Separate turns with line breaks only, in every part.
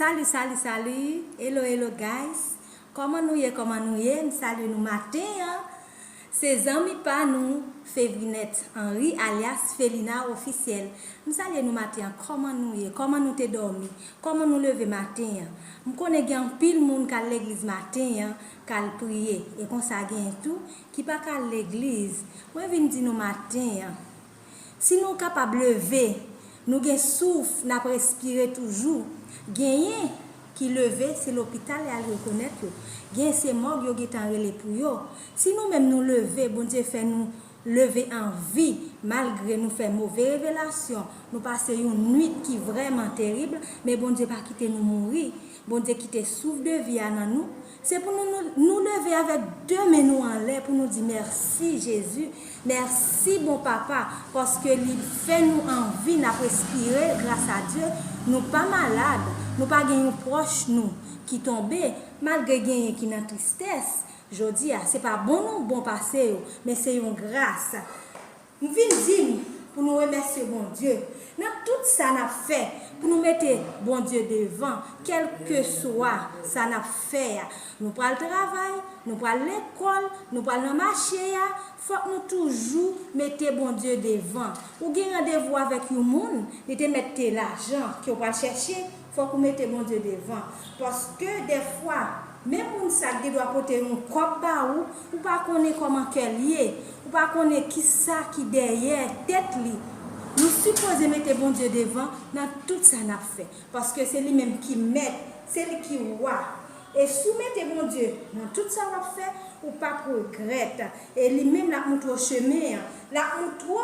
Salut salut salut hello hello guys kòman nou ye kòman nou ye m salye nou maten an se zanmi pa nou Fevrinette Henry alyas Felina officiel m salye nou maten an kòman nou ye kòman nou te dòmi kòman nou leve maten an m konnen gen anpil moun kal legliz maten an kal priye e konsa genyen tou ki pa kal legliz mwen vin di nou maten an Si nou kapab leve, nou gen souf, n ap respire toujou. Genyen ki leve, se lopital y al rekonèt yo. Genyen se mòg yo gentan rele pou yo. Si nou menm nou leve, Bondye fè nou leve an vi, malgre nou fè move revelasyon, nou pase yon nuit ki vrèman terib, men Bondye pa kite nou mouri. Bondye kite souf de vi a nan nou. Se pou nou nou leve avèk 2 men nou anlè pou nou di mèsi Jezi, mèsi bon papa paske li fè nou an vi nap respire gras a Dye nou pa malad nou pa gen yon pwòch nou ki tonbe malgre genyen ki nan tristès jodia se pa bon nou bon pase yo men se yon gras M vin di n pou nou remèsye Bondye nan tout sa n ap fè, pou nou mete Bondye devan kèlkeswa sa n ap fè a. Nou pral travay, nou pral lekòl, nou pral nan mache a, fòk nou toujou mete Bondye devan. Ou gen randevou avèk yon moun, li te mèt te lajan ke w pral chèche, Fòk ou mete Bondye devan. Paske dèfwa, menm moun sa k gendwa pote yon kòb ba ou, ou pa konnen kòman kè l ye. Ou pa konnen ki sa ki dèyè tèt li. Nou sipoze mete Bondye devan nan tout sa n ap fè. Paske se li menm ki mèt. Se li ki wa. E si w mete Bondye nan tout sa w ap fè, ou pap regrèt. E li menm l ap montre w chemen an. L ap montre w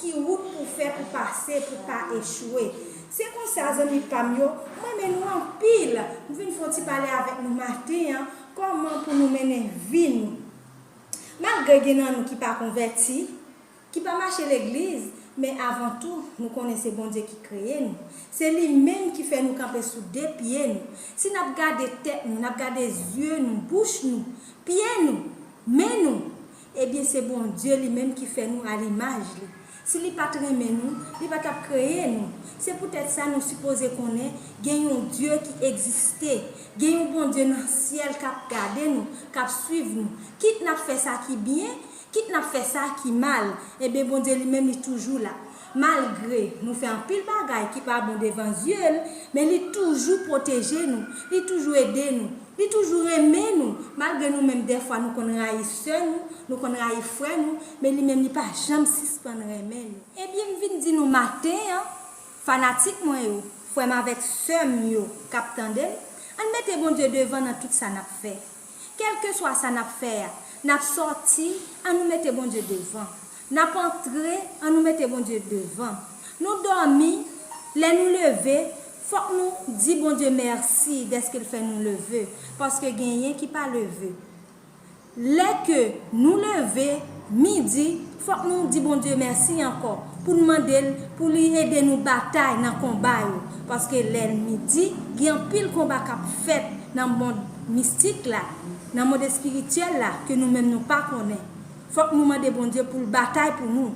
ki wout pou w fè pou pase, pou w pa echwe. Se konsa zanmi pam yo, m renmen nou anpil, m vin fon ti pale avèk nou maten an, kòman pou nou mennen vi nou. Malgre gen nan nou ki pa konvèti, ki pa mache legliz, men avan tou nou konnen se Bondye ki kreye nou, se li menm ki fè nou kanpe sou 2 pye nou, si nap gade tèt nou, nap gade zye nou, bouch nou, pye nou, men nou, Ebyen se Bondye li menm ki fè nou a limaj li. Si li pat renmen nou, li pa tap kreye nou. Se poutèt sa nou sipoze konnen gen yon Dye ki egziste. Gen yon Bondye nan syèl kap gade nou, kap swiv nou. Kit nap fè sa ki byen, kit nap fè sa ki mal, ebyen Bondye li menm li toujou la. Malgre nou fè anpil bagay ki pa bon devan zye l, men li toujou pwoteje nou, li toujou ede nou, li toujou renmen nou, malgre nou menm dèfwa nou konn rayi sè nou, nou konn rayi frè nou, men li menm li pa janm sispann renmen nou. Ebyen m vin di nou maten an, fanatik mwen yo, frè m avèk sè m yo k ap tande m, ann mete Bondye devan nan tout sa n ap fè. Kèlkeswa sa n ap fè a, n ap sòti, an nou mete Bondye devan. N ap antre, an nou mete Bondye devan. Nou dòmi, lè nou leve, fòk nou di Bondye mèsi dèske l fè nou leve, paske genyen ki pa leve. Lè ke nou leve, midi, Fòk nou di Bondye mèsi ankò, pou n mande l pou li ede nou batay nan konba yo, paske lènmi di gen anpil konba k ap fèt nan mond mistik la, nan mond espirityèl la ke nou menm nou pa konnen. Fòk nou mande Bondye pou l batay pou nou.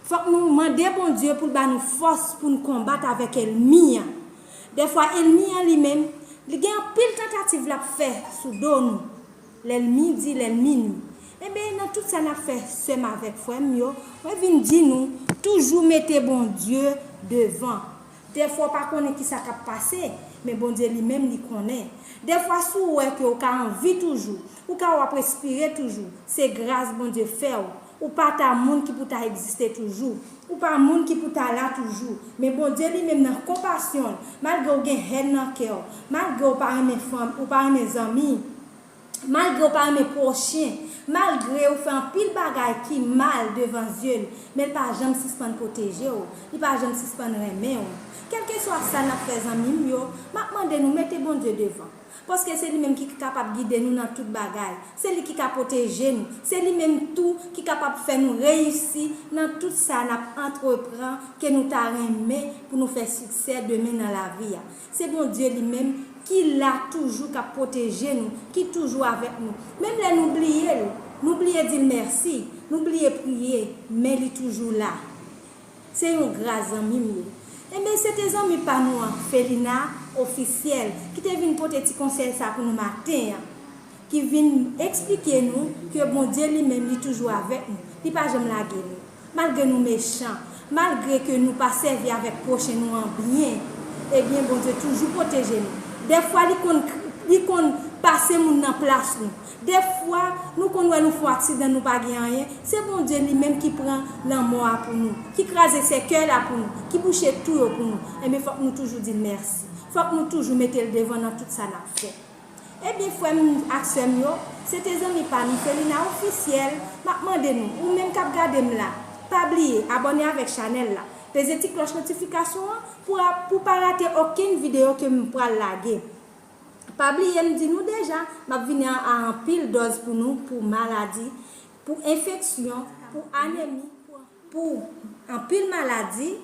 Fòk nou mande Bondye pou l ba nou fòs pou n konbat avèk èlmi an. Dèfwa èlmi an li menm, li gen anpil tantativ l ap fè sou do nou. Lel midi lel minwi. Enben nan tout sa nap fè sèm avèk frèm yo mwen vin di nou toujou mete Bondye devan dèfwa ou pa konnen kisa kap pase men Bondye li menm li konnen dèfwa si ou wè ke ou ka anvi toujou ou ka wap respire toujou se gras Bondye fèw Ou pa ta moun ki pou ta egziste toujou. Ou pa moun ki pou ta la toujou. Men Bondye li menm nan konpasyon l, malgre w gen hèn nan kè w, malgre w pa renmen fanmi, ou pa renmen zanmi, malgre w pa renmen pwochen, malgre ou fè anpil bagay ki mal devan zye l, men l pa janm sispann pwoteje w, li pa janm sispann renmen w. Kèlkeswa sa n ap fè zanmi m yo, m ap mande nou mete Bondye devan. Paske se li menm ki kapab gide nou nan tout bagay. Se li ki ka pwoteje nou. Se li menm tou ki kapab fè nou reyisi nan tout sa n ap antrepran ke nou ta renmen pou nou fè siksè demen nan lavi a. Se Bondye li menm ki la toujou k ap pwoteje nou, ki toujou avèk nou. Menm lè nou bliye l, nou bliye di l mèsi, nou bliye priye, men li toujou la. Se yon gras zanmim yo. Enben se te zanmi pa nou an Felina Officiel ki te vin pote ti konsèy sa pou nou maten an. Ki vin eksplike nou ke Bondye li menm li toujou avèk nou. Li pa janm lage nou. Malgre nou mechan, malgre ke nou pa sèvi avèk pwochen nou an byen, ebyen Bondye toujou pwoteje nou. Dèfwa li konn li konn pase moun nan plas nou. Defwa nou konn wè nou fò ak sidan nou pa gen anyen, se Bondye li menm ki pran lanmò a pou nou, ki kraze sèkèy la pou nou, ki bouche tou yo pou nou, enben fòk nou toujou di mèsi, fòk nou toujou mete l devan nan tout sa n ap fè. Ebyen frè m ak sè m yo, se te zanmi pa nou Felina Ofisyèl, m ap mande nou, ou menm k ap gade m la, pa bliye abòne avèk chanèl la, peze ti klòch notifikasyon an pou w pa rate okenn videyo ke m pral lage. Pa bliye m di nou deja, m ap vini a anpil dòz pou nou pou maladi, pou enfeksyon, pou anemi, pou anpil maladi,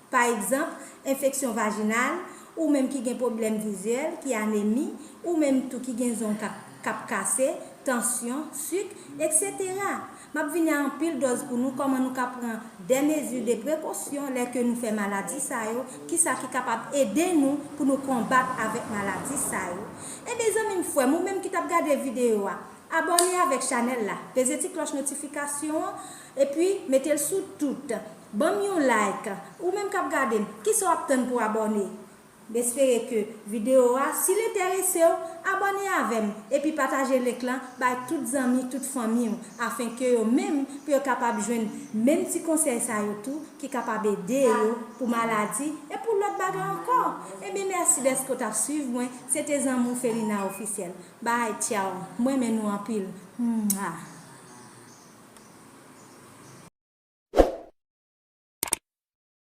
pa egzanp, enfeksyon vajinal, ou menm ki gen pwoblèm vizyèl, ki anemi, ou menm tou ki gen zong k ap kase, tansyon, sik, eksetera. Map vini a anpil dòz pou nou kòman nou ka pran dè mezi de prekosyon lè ke nou fè maladi sa yo, kisa ki kapab ede nou pou nou konbat avèk maladi sa yo. Enben zanmi m frè m ou menm ki tap gade videyo a, abòne avèk chanèl la, peze ti klòch notifikasyon an, epi mete l sou tout. Banm yon like. Ou menm kap gade m, kisa w ap tann pou abòne? M espere ke video a, si l enterese w, abòne avè m epi pataje link lan bay tout zanmi, tout fanmi w afen ke yo menm pou yo kapab jwenn menm ti konsèy sa yo tou ki kapab ede yo pou maladi e pou lòt bagay ankò. Ebyen mèsi dèske w t ap swiv mwen, se te zanmi w Felina Officiel. Bye tchao, m renmen nou anpil. Mwah.